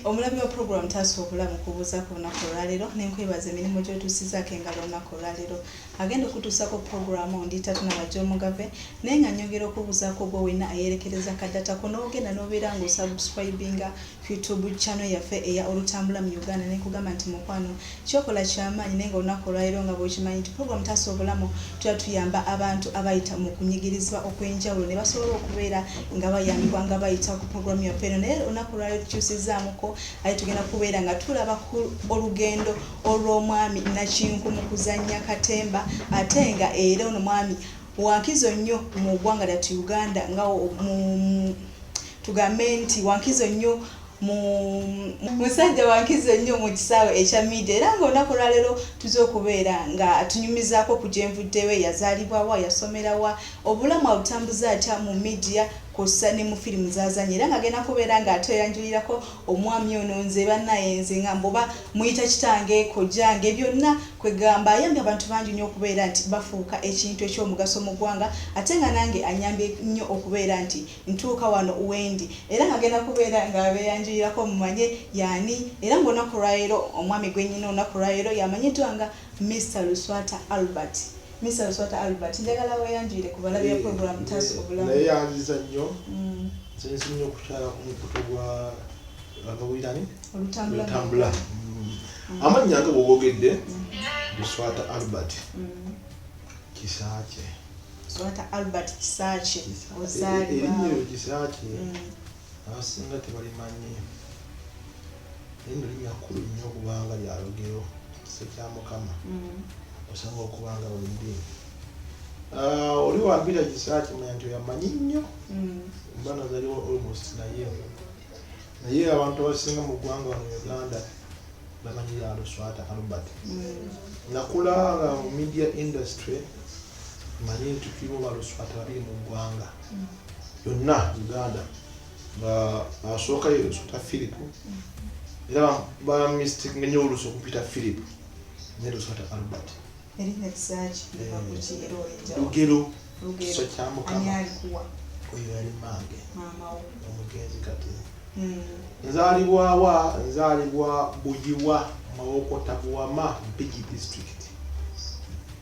Omulabi wa pulogulaamu taasa obulamu kubuuza ku lunaku olwaleero ne nkwebaza emirimu gy'otuusizaako engalo olunaku olwaleero. Agenda okutuusako pulogulaamu ndi tatunaba gy'omugave naye nga nyongera okubuuzaako gwe wenna ayeerekereza ka data ko n'ogenda n'obeera nga osubscribinga YouTube channel yaffe eya Olutambula mu Uganda ne nkugamba nti mukwano Kyokola kyamaanyi naye nga olunaku olwaleero nga bwokimanyi nti program taasa obulamu tubeera tuyamba abantu abayita mukunyigirizibwa okwenjawulo nebasobola okubeera nga bayambibwa nga bayita ku program yaffe eno naye olunaku olwaleero tukyusizzaamukko ate tugenda kubeera nga tulaba ku olugendo olw'omwami Nakinku mu kuzannya katemba ate nga era ono mwami wankizo nnyo mu ggwanga lyattu Uganda nga tugambe nti wankizo nnyo musajja wankizo ennyo mu kisaawe ekya media era nga olunaku olwaleero tuze okubeera nga tunyumizaako ku gyenvuddewe yazaalibwawa yasomerawa obulamu abutambuza atya mu media kwossa ne mu firimu zazanya era nga agenda kubeera nga atweyanjulirako omwami ono nze banaye nze nga mbuba muyita kitange kojjange byonna kwegamba ayambye abantu bangi nnyo okubeera nti bafuuka ekintu ekyomugaso mu ggwanga ate nga nange anyambye nnyo okubeera nti Ntuuka wano wendi era nga ngenda kubeera nga abeeyanjulirako mmanye y'ani era nga olunaku lwaleero omwami gwe nnina olunaku lwaleero y'amanyiddwa nga Mister Luswata Albert. Mister Luswata Albert njagala weeyanjulire ku balabi ba pulogulaamu Taasa Obulamu. Nneeyanziza nnyo. Nsinze nnyo okukyala ku mukutu gwa Lwakabuyirani Lutambula. Amannya nga bwe googedde Luswata Albert Kisaakye. Swata Albert Kisaakye ozaalibwa erinnya Kisaakye mm. abasinga tebalimanyi lino linnya kkulu nnyo kubanga lya lugero kise kya Mukama mm. osanga okubanga wendi ah, oli wambira Kisaakye manya nti oyamanyi nnyo mm. mba nazaliwo almost naye naye abantu abasinga mu ggwanga wano Uganda bamanyi lya Luswata Albert nakula nga mu media industry manye nti tuliwo baluswata babiri mu ggwanga yonna uganda nga asooka ye luswata philip era bamistik ngenye olusi okupita philip ne luswata albert lugero kiso kyamukama oyo yali mange omugenzi kati hmm. nzalibwawa nzalibwa buyiwa mawokota buwama mpigi district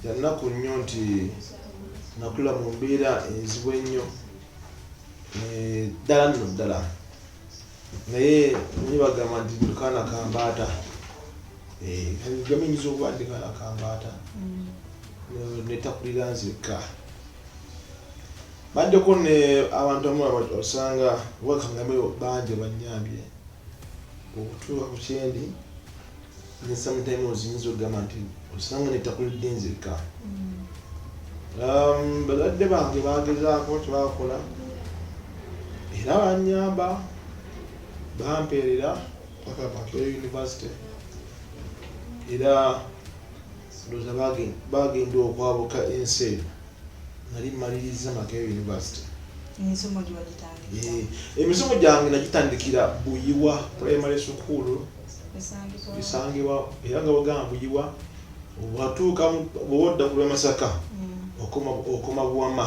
Kya nnaku nnyo nti nakula mu mbeera enzibu ennyo eh, ddala nno ddala naye naye bagamba nti kaana kambaata eh, gamiyinza okuba ndi kaana kambaata mm. netakulira nzekka baddeko ne abantu amu osanga wakangameo bangi banyambye okutuuka ku kyendi ne sometime ozinza okugamba nti osanga netakulidde nzekka um, balwadde bange bagezaako tebakola era banyamba bampeerera paka makerere university era Ndowooza baagenda okwabuka ensi eyo nali mmalirizza Makerere University. Emisomo gyo wagitandikira? Eh, emisomo gyange nagitandikira Buyiwa Primary School esangibwa era nga bagamba Buyiwa watuuka bw'odda ku lw'e Masaka mm. okoma Buwama.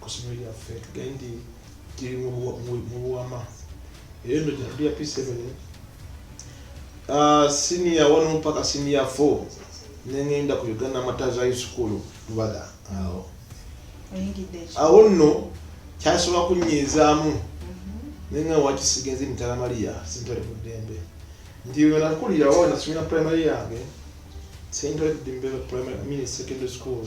ku ssomero lyaffe tugende nti kiri mu Buwa- mu- mu buwama era eno gyatuli ya p7 Ah, siniya wano mpaka siniya 4 nengenda ku uganda mataza high school lubaga awo oyingidde eki awo nno kyasobola kunyiizaamu naye nga wakisiga enzi mitala mariya sintole ku ddembe nti wenakulirawo nasomera primary yange sintole ku ddembe primary mini secondary school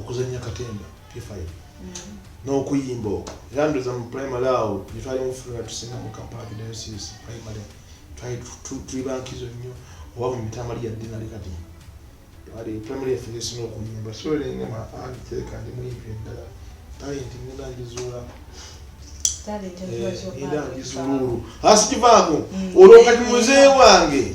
okuzanya katemba p5 mm. n'okuyimba okwo era ndoza mu primary awo netwali mufulira tusinga mu kampala kidayosis primary twali tuli bankizo nnyo oba mu mitamali yadde nali kati twali primary yaffe gesina okuyimba so lenga maangi teeka ndi muyimbi eddala talenti ngenda ngizuula ngenda eh, ngizuulu asikivaako mm. olwo kati muze wange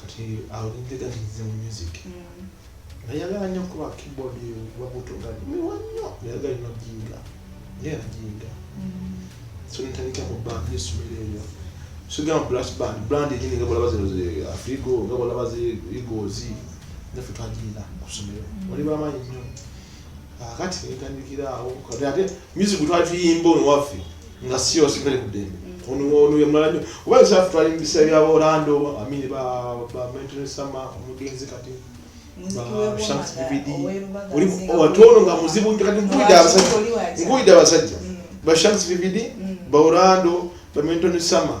kati awulidde gati nze mu music nayagala nnyo kuba keyboard wabuto gani miwa nnyo nayagala ino jinga naye ajinga so nitandika mu band yesomero eyo sigamba brass band brand enyini nga bolaba zino afrigo nga bolaba zi igozi naffe twajinda ku somero wali bamaanyi nnyo kakati nitandikira awo kati ate music twali tuyimba ono waffe nga si yose kwere kudembe ono ono yamala nyo oba yosafu twali mbisa bya orlando amini ba ba mental sama omugenzi kati watono nga muzibu kati nkuida abasajja nkuida abasajja mm. ba shams vividi mm. ba orlando ba mental sama mm.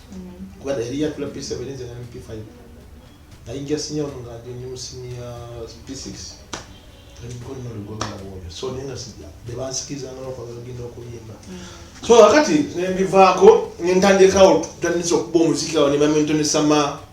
kuba yali yatula P7 nze nali P5 nayingira sinya ono nga ndi mu sinya P6 so naye nga bebansikiriza nga nokwagenda okuyimba so wakati nembivaako nentandikawo tutandisa okuba omuziki awo nebamentonesama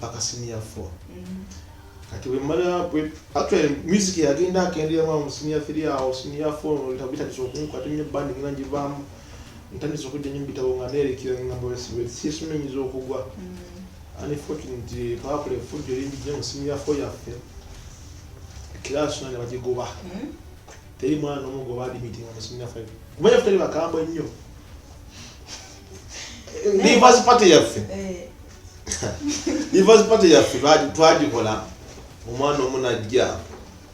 paka senior four mm. kati wemala actually music yagenda akendera mwa musinia fili awo sinia four tabita kisokunku kati nyo band ngina jivamu ntandise okujja nyo bitabo nga nerekera ngamba wesibe sisumenyiza okugwa mm. unfortunately pawapula efujjo linjija mu sinia four yaffe kirasi nane bagigoba mm. teri mwana nomu goba adimitinga mu sinia five kumanya ffe teri bakambwe nnyo neighbors party yaffe eh. divorce party yaffe twagikola omwana omu najja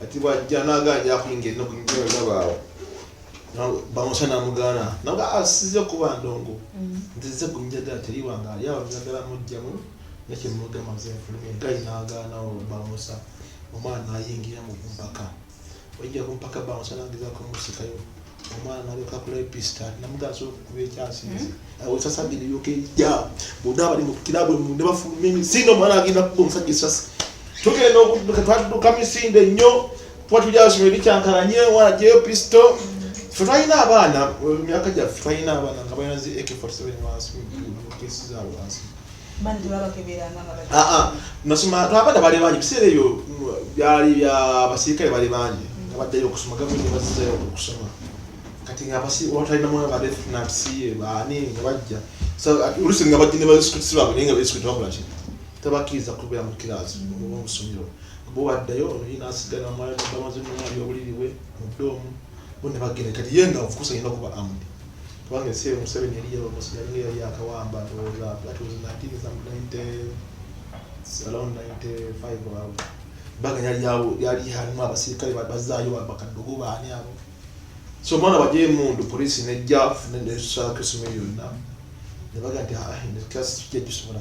ati bwajja naganja akuyinga ennaku nabaawo bamusa namugaana naga asize ah, kuba ndongo mm. nzize kunjagala teri wange ali awo njagala mujjamu nekyemugamba zenfulume gali nagaanawo bamusa omwana nayingira mu kumpaka wajja kumpaka bamusa nageza kumusikayo omwana nalyoka akula epista namugaa sobola okukuba ekyasi nze hmm? awesa sabbi nelyoka ejja bonna abali mu kirabwe mu ne bafuluma emisinde omwana agenda kuba omusajja esasi tugenda okudduka twadduka misinde nnyo kuba tuli asoma eri kyankalanye omwana jeyo pisto fe twalina abaana emyaka gyaffe twalina abaana nga balina zi ak 47 wansi kesi zaabwe wansi nasoma twabadde bali bangi biseera ebyo byali bya basirikale bali bangi nga baddayo okusoma gavumenti bazizayo okusoma kati nga watalinamu nga badefunansi baani nga bajja olusi nga bajja ne basikuti baabwe naye nga basikuti bakola ki tabakkiriza kubeera mu kiraasi oba mu ssomero bo baddayo oyo nasigala mwalibamaze mu mwali obuliriwe mu ddoomu bo ne bagenda kati ye nga ofukusa yenda kuba amudi kubanga ensi eyo museveni yali yalomos yali nga yali yakawamba ndowooza that was 1990 around 95 awo baga yali yawo yali halimu abasirikale bazaayo bakadogo baani abo so omwana wajeyo emundu polisi nejja nesaako esimu yonna nebaga nti ah, kyakisobola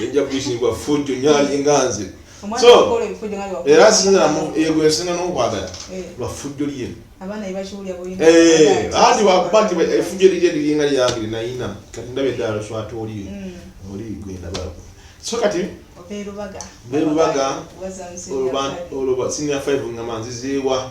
nejja kuyisibwa fujjo nyali nganze so era sinzira yegwesinga nokwagala eh. lwafujjo lye anti wakuba nti efujjo lirye liringa lyange linayina kati ndabe eddala swata oli mm. oli gwendabako so kati berubaga olwo senior five ngamba nzizeewa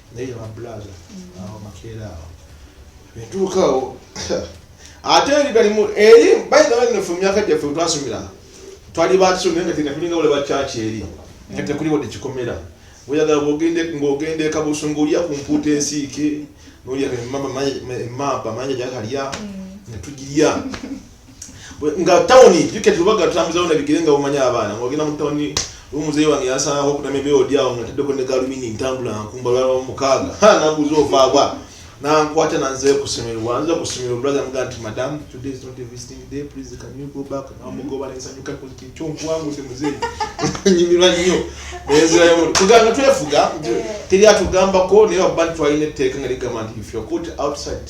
naye ba brother awo makeera awo etuukawo ate eri galimu eri bayina bannefe mumyaka gyaffe twasomera twali bakisomi naye nga tena tulinga wale bakyaki eri nga tekuli wadde kikomera oyagala ng'ogenda ekabusungu olya ku mpuuta ensiike nolya emamba manya gyakalya mm. netugirya nga town yike tubaga tutambuza ona bigire nga umanya abana ngogina mu town umuzeyi wange yasanga ko kutame byo dia nga tedde ko ndeka lumini ntambula nkumba baba mukaga ha nabuzo vagwa na nkwata na nze kusimira wanza kusimira brother mga anti madam today is not a visiting day please can you go back na mugo bana isanyu ka kuti cho kwangu se muzeyi nyimira nyo bezira yo kuganga twefuga teri atugamba ko ne abantu ayine teka ngari kama ndi if you put outside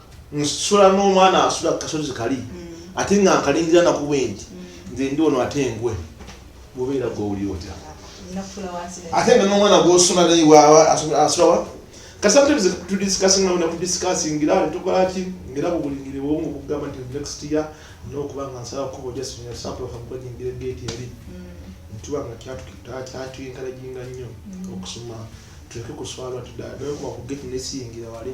nsula n'omwana asula kasozi kali mm. ate nga nkalingira nakuba enti mm. nze ndi ono ate engwe mubeera gwowuli otya ate nga n'omwana gwosula naye asulawa kasabutebze tudisikasinga bona kudisikasingira tukolaki ngera bubulingire bwomu okugamba nti next year nokuba nga nsaba kuba ojasinya sample kamukwajingira gate eri mm. ntuba nga kyatuyinkalaginga nnyo okusoma tuleke kuswalwa tudala naye kuba ku gate nesiyingira wali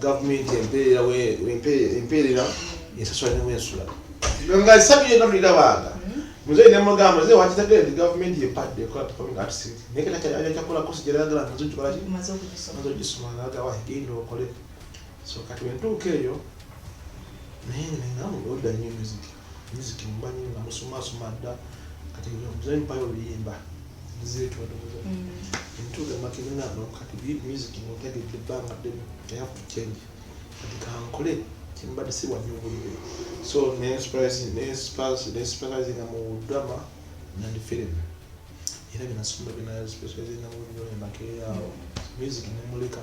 gavumenti empeerera ensasula newensula nga esabire nga tulirabanga muzeyi nemugamba muzeyi wakitegere nti gavumenti yepadde ekola performing arts naye kati akyakola kosi gyeragala nti maze ogikolaki maze ogisoma nagawa genda okole so kati wentuuka eyo naye nengamu odda nyo muziki miziki mumanyi nga musumasuma dda kati muzayi mpayo oluyimba zitwetoza entuuga makirina no kati miziki mutegedde ebbanga ddene i have to change kati kankole kyembadde siwa nyo obulire so nespecializinga mu drama nandi film era byenasomba byenaspeaizinga mu nyo emakeeyo awo miziki nemuleka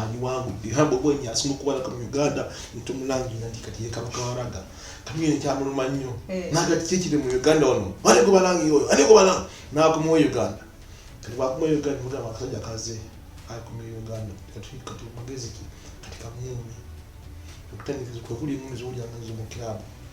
agiwangudde era bobi wine asinga okubalaka mu uganda ntomulangira nti kati ye kabaka waraga kamyuyo nkyamuluma nnyo eh. naga kiki ekiri mu uganda wano ani gwe balangira oyo ani gwe balang nakumawo uganda kati bakumawo uganda mugamba akasajja kaze akumawo uganda kati kati magezi ki kati kamyuyo okutandikiza kwekuli emumizi wulyangazo mu kilabu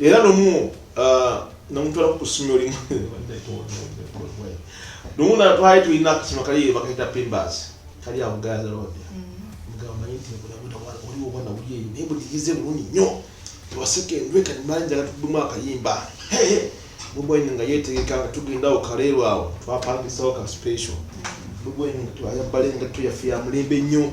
era nomu uh, namutwala ku ssomero limu nomu natwali tulina akasoma kali bakaita pimbas kali awo gaza road mugamanyi mm. nti oli obwana buli eyo naye buligize bulungi nnyo tewaseka endwe kati mali njala tudumu akayimba bubweni nga yetegeka nga tugenda awo kaleero awo twapangisawo ka special bubweni nga twayambala engatto yaffe ya mulembe nnyo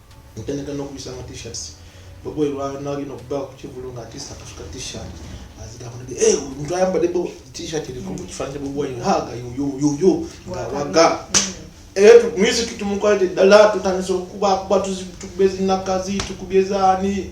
Ntandika n'okuyisa ama t-shirts bobo lwanalina okubawo ku kivulu nga atisa akafuka t-shirt azidakulaga eh omuntu ayambadde bo t-shirt eriko mu kifaananyi kya bobo wine haga yoyoyoyo nga waga eh tu- music tumukwalidde ddala tutandise okukubakuba tuzi- tukubye zinakazi tukubye zaani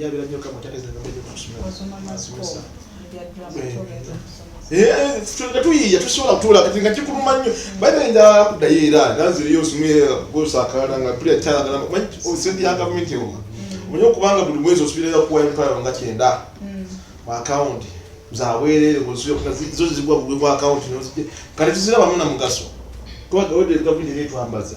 yabira nyo kama tateza nga mbele kusoma asomesa tuyiya tusobola kutuula kati nga kikuluma nnyo baina nja kuddayo era nanziriyo osumire gosakala nga pulira kyalagala sente ya gavumenti ewa omanyi okubanga buli mwezi osubirayo kuwa emitwalo nga kyenda mu akawunti zaweerere zo zigwa bugwe bwa akawunti kati tuzirabamu na mugaso twagawedegavu nyenetwambaza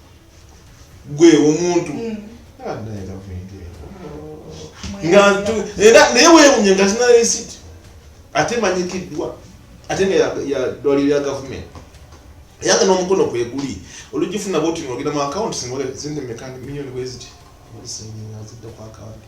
gwe omuntu mm. ah, naye wewunye nga zina resiti ate manyikiddwa ate nga yadwaliro ya gavumenti yange n'omukono kweguli olugifuna bwoti nogenda mu akawunti singa sente mekandi miliyoni bweziti olisengazidde ku akawunti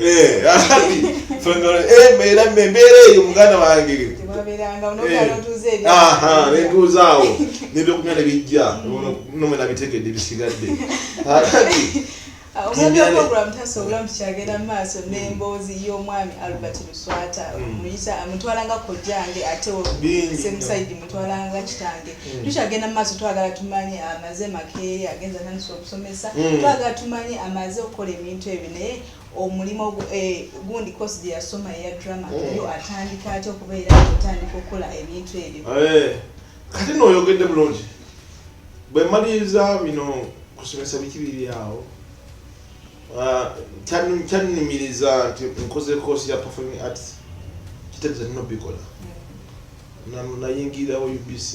Eh, embeera eh, embeera eyo muganda wange eh, nentuuzaawo nebyokunya nebijja nomwe nabitegedde bisigadde omwanaprogram tasobola nti kyagenda mu maaso n'emboozi y'omwami albert luswata mm. muyisa mutwalanga kojjange ate semusaidi mutwalanga kitange mm. tukyagenda mu maaso twagala tumanye amaze makeeri agenza naniso okusomesa mm. twaga tumanye amaze okukola ebintu ebyo naye omulimu eh, gundi kosi gye yasoma eya drama mm. yo atandika atya okubeera otandika okukola ebintu ebyo eh, kati nooyogedde bulungi bwe maliriza bino kusomesa biki biri awo ah, kyannumiriza nti nkoze kosi ya performing arts kitegeeza nina obikola mm. nayingirawo ubc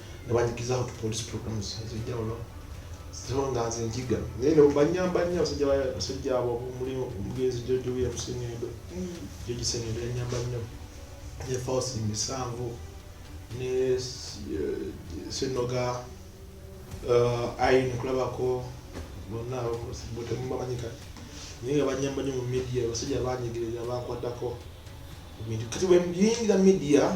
ne banyikiza out police programs ez'enjawulo zino nga nze njiga naye ne banyamba nnyo abasajja basajja abo omuli omugenzi George William Sengendo mm. George Sengendo yanyamba nnyo ne Fausti Misanvu ne eh, Senoga eh, ayi nkulabako bonna botemubamanyika naye nga banyamba nnyo mu media abasajja banyigerera bankwatako kati bweyingira media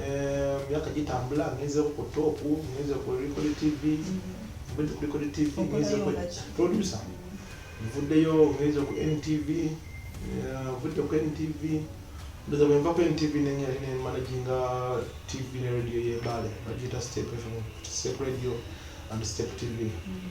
emyaka eh, gitambula ngenze ku top ngenze ku record tv ngenze ku record tv ngenze ku producer nvuddeyo ngenze ku ntv eh, nvudde ku ntv ndoza bwe nva ku ntv nenyali ne managinga tv ne radio y'embaale bagiyita step fm step radio and step tv mm.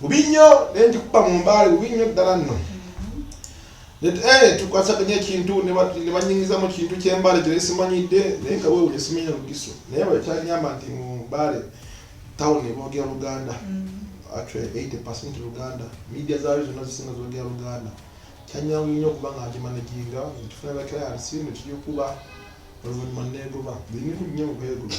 bubi nnyo naye njikuba mu mbaale bubi nnyo ddala nno eh, tukwasaganya ekintu ne banyingiza mu kintu ky'embaale kye simanyidde naye nga weewunya simanya lugiso naye bwe kyanyamba nti mu mbaale tawuni boogera luganda mm. actually 80 percent luganda media zaayo zonna zisinga zoogera luganda kyanyangu nnyo okuba nga nkimanaginga nkifuna bakirayansi ne kiyukuba oluvannyuma neegoba buli bintu nnyo okwegoba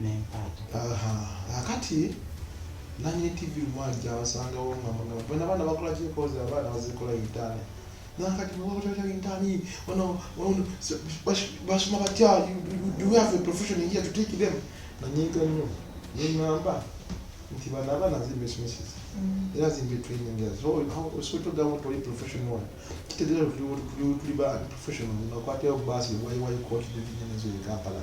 n'empaata. Aha, akati nanyini TV mwali gyabasangawo nga muno bona abaana bakola kyekozi abaana bazikola yitaani nakati bakola yitaani ono ono basoma batya do we have a profession here to take them nanyiiga nnyo nengamba nti bano abaana zimba esomeseza mm. era zimba training sotogamu toli professional kitegeera tuli ba professional nakwatayo baasi why why coach division ezo e kampala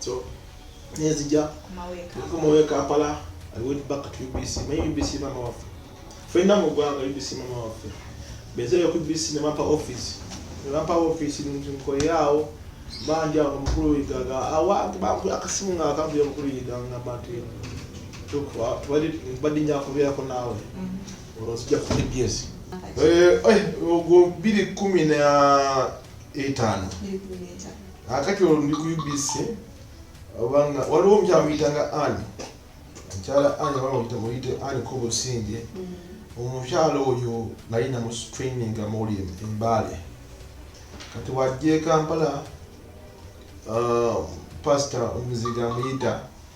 so nezija kumawe kampala i went back to ubc my ubc mama waffe fenna mu ggwanga ubc mama waffe bezeyo ku ubc ne bampa office ne bampa office nkoyaawo banja omukulu yigaga awantu bampu akasimu nga akambuya omukulu yiga nga bantu tubadde nja kubeerako naawe mm-hmm. olwo sijja ku abs eh, eh, ogwo biri kumi na etaano akati olwo ndi ku UBC obanga waliwo omukyala muyitanga ani mukyala ani abamuyita muyite ani kobusinge mm. omukyala oyo nali namu training amoli embaale kati wajja ekampala uh, pasita omuziga amuyita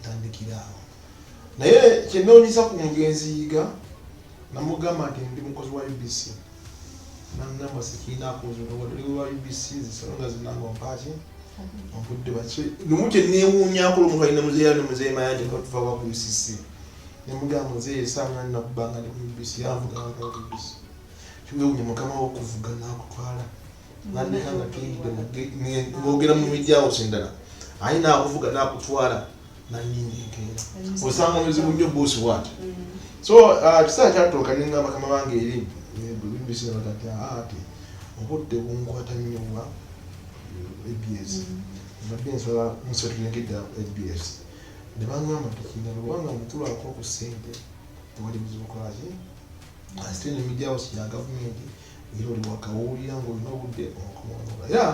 ntandikiraawo naye kyenoonyeza ku mugenzi yiga namugamba nti ndi mukozi wa ubc nangamba sikiinakozwa ubc zisonga zinanga mpaaki obudde bakye lumu kyenewuunyako lumu kalina muzeeya ne muzeeyi mayanja batuvaba ku ucc nemugamba muzeeyi esanga nakubanga ne ku ubc yanvuga wanga ku ubc kiwewunya mukama wokuvuga nakutwala nandeka nga tuyingidde ngogera mu mijawusi endala aye nakuvuga nakutwala nanyinga enkeera osanga muzibu nnyo buusi waati mm. so uh, kisaa kyatuuka ninga bakama bange eri bibisinabatati ate obudde bunkwata nnyo wa abs mm. mbadde nsaba musetulengedda abs nebangamba tukina lubanga mukulu ako ku sente tewali buzibu kwaki asite nemijawo siya gavumenti era oli wakawulira ng'olina obudde okoonoola era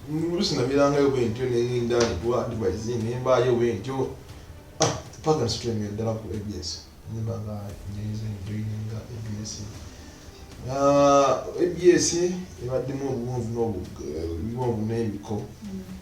oluusi namirangayo bwe ntyo nengenda ewa advise nembaayo bwe ntyo ah, paka nsitulengera ddala ku abs nemba nga njayiza enjoyininga abs ah, abs ebaddemu obuwonvu n'obuwonvu n'ebiko mm.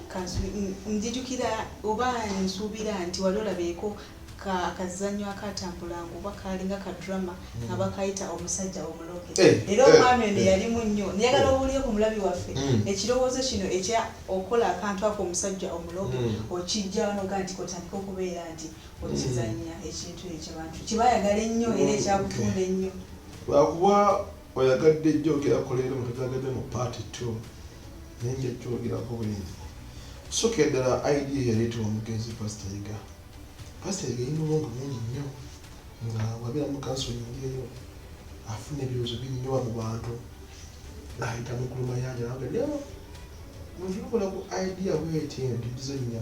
njijukira oba nsuubira nti wali olabeeko akazanyo akatambulanga oba kalinga ka drama hmm. nga bakayita omusajja omuloge eh, era eh, omwami ono eh. yalimu nnyo niyagala owulire ku mulabi waffe hmm. ekirowoozo kino ekya okukola akantu ako omusajja omuloge hmm. okijja wanoga nti kotandika okubeera nti okizanya ekintu ekyo bantu kibayagala ennyo era ekyakutunda ennyo lwakuba Oyagadde jogera kuleero mutujagadde mu part two naye nja jogerako bwenzi soke ddala idea yaleeta omugenzi pastor yiga pastor yiga yina obwongo bungi nnyo nga wabera mu kanso yingi eyo afuna ebirozo binyowa mu bantu ayita mukulu mayanja naga leo mutulokola ku idea bweti ntudize nnya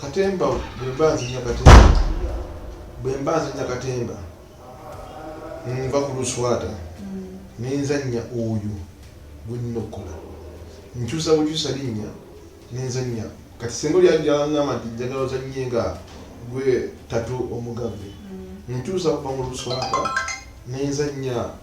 katemba bwemba nzinya katemba bwemba nzinya katemba nva ku luswata nenzanya oyo gwenina okukola nkyusa bukyusa linnya nenzanya kati senga olyajangamba nti njagala ozanye nga gwe tatu omugave mm. nkyusa kuva mu luswata nenzanya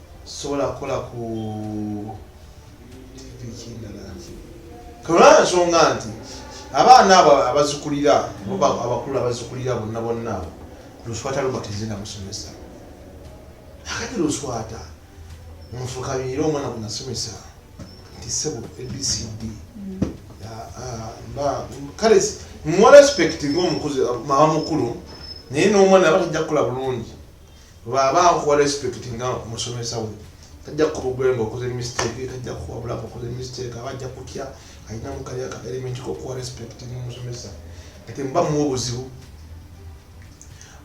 sobola kukola ku olaba nsonga nti abaana abo abazikulira abakulu abazikulira bonna bonna abo luswata lubatizina musomesa akati luswata mufukabiire omwana kunasomesa nti sebo abcd kale muwa respect ngaomukuzi mama mukulu naye n'omwana aba tajja kukola bulungi Bwaba nkuwa respect nga musomesa we tajja kubugula nga okoze mistake tajja kuwabula nga okoze mistake aba ajja kutya alina mukali aka element kokuwa respect nga musomesa kati muba muwa obuzibu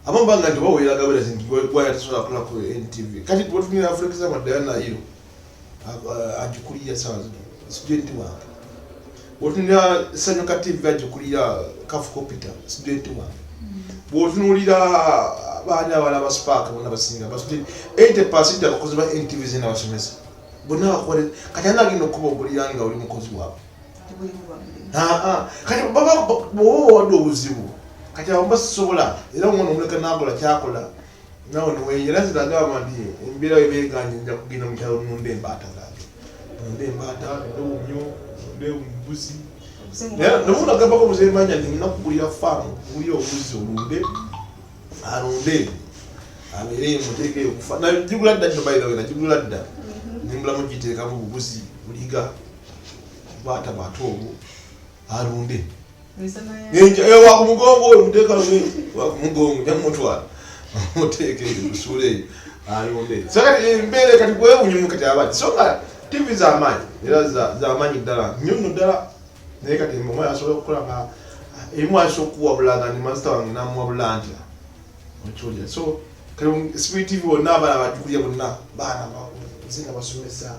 abamu banga nti bawulira gaberezi nti gwaya tasobola kulaku ntv kati gwetunira for example diana iro agikulira sawa zino studenti wange bwotunulira sanyuka tv agikulira kafukopita studenti wange bwotunulira baali abala basupaaka bona basinga basudeni ente pasiti abakozi ba ntv zina basomesa bonna bakole kati ana agenda okuba ogulira nga oli mukozi waabwe kati baba owadde obuzibu kati abo basobola era omwana omuleka nakola kyakola nawe niweyera nze nagamba nti embeera we beganye nja kugenda mu kyalo nonda embaata zange nonda embaata nonda obumyo nonda obubuzi nomunagambako muzemanya nti nina kugulira faamu gulira obubuzi olunde alunde abeere muteeke okufa nagigula dda nyo bairawe nagigula dda mm-hmm. nembulamu giteekamu obubuzi buliga baata bato obwo alunde ewa ku mugongo oyo muteeka wa ku mugongo nemutwala muteeka eyo musuula eyo alunde sakati embeere kati gwewunyumu kati abadi so nga tivi zamaanyi era zamaanyi ddala nyo no ddala naye kati mama asobola okukola nga emu asobola okuwabula nga ndi mazita wange namuwabula ntya okiwulira so kati sibitivi bonna abaana bajukulya bonna baana nze nga basomesa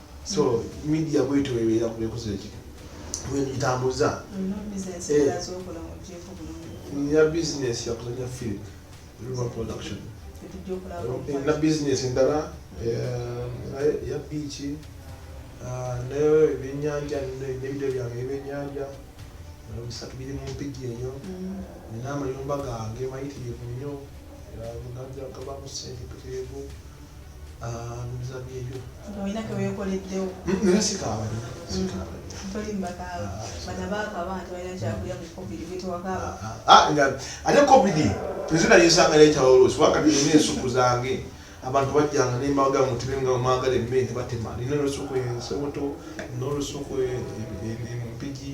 so media bwetyo webeera kubekozo eki wegitambuza nina business yakuzanya film river production nina business endala ya biiki ah, nayo ebyenyanja nebideo byange ebyenyanja bisatu biri mu mpigi eyo mm. nina amayumba gange mayitirivu nnyo muganja kabamu sente peterevu ate covid tezina yesanga nekyawolosi wakati nina ensuku zange abantu bajjanga nembaga mutube nga mwagala emmere batema nina olusuku ensoboto nolusuku empigi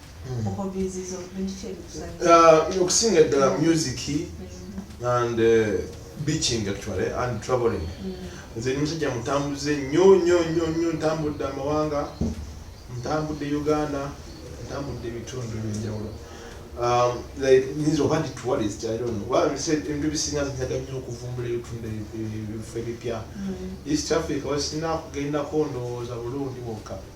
Uh, okusinga eddala music mm-hmm. and uh, beaching actually and traveling mm-hmm. nze ni musajja mutambuze nyo nyo nyo nyo ntambudde amawanga ntambudde uganda ntambudde ebitundu ebyenjawulo um, nyinza oba ndi tourist i don't know well said ebintu bisinga zinyaga nnyo okuvumbula ebitundu ebifo ebipya mm-hmm. east africa wasinakugenda kondowooza bulungi bwokka mm -hmm.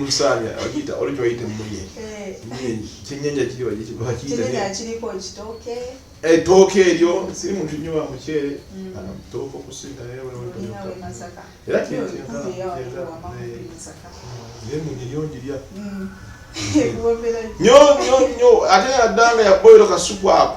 musaanya okiyita oli kyoyita emmunye kyennyanja kiri bakiyitaekiriko kitooke ettooke eryo si muntu nyo wa muceere tooka okusinga naye era neyonjirya nyo nyo nyo ate yaddanga yaboyiro kasuku ako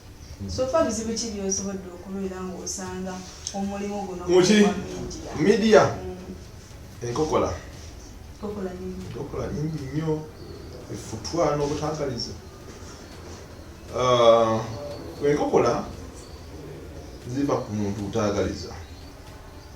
Sofa bizibu ki byosobodde okubeera ng'osanga omulimu guno muki midiya mm. enkokola enkokola nyingi nnyo efutwa n'obutangalizi uh, enkokola ziva ku muntu utaagaliza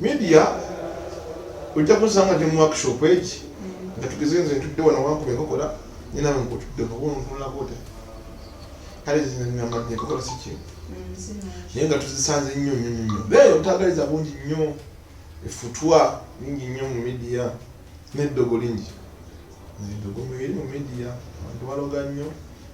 Media ojja kunsanga ndi mu workshop egi nga tugeze nze ntudde wano wankubye kakola nye nawe nkutudde nobuntulakote kale zinanamanye kakola siki naye nga tuzisanze nnyo nnyo nnyo nnyo naye otagaliza bungi nnyo efutwa lingi nnyo mu media neddogo lingi neddogo mubiri mu media abantu baloga nnyo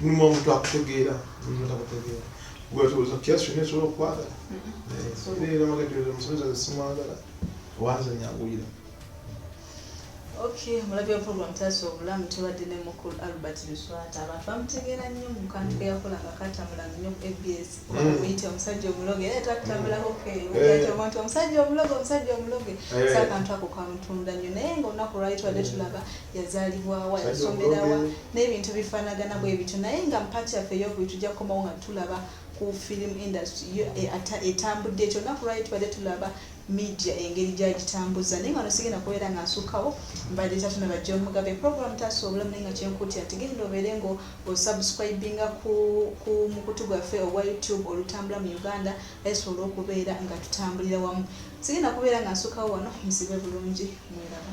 mulimu omuntu akutegeera mulimu takutegeera gwetooza kyasi kyonna esobola okukwagala era magajoeza musomesa ze simwagala owanza nyanguyira Okay, mulabye program taso obulamu tubadde ne mukulu Albert Luswata abantu bamutegeera nnyo mu kantu ke yakola nga katamula nnyo ku ABS bakuyita omusajja omuloge naye twatutambula hope eyo nti omusajja omuloge omusajja omuloge so akantu ako kamutunda nnyo naye nga olunaku lwali tubadde tulaba yazaalibwawa yasomerawa n'ebintu bifaanagana bwe bityo naye nga mpaati yaffe eyokubiri tujja kukomawo nga tulaba ku film industry etambudde ekyo olunaku lwali tubadde tulaba media engeri gyagitambuza naye nga no sigenda kubeera nga nsukkawo mbadde tatuna ba john mugabe program taasa obulamu naye nga kyenkuutira nti genda obeere nga osubscribinga ku, ku mukutu gwaffe ogwa youtube olutambula mu uganda esobola okubeera nga tutambulira wamu sigenda kubeera nga nsukkawo wano musibe bulungi mweraba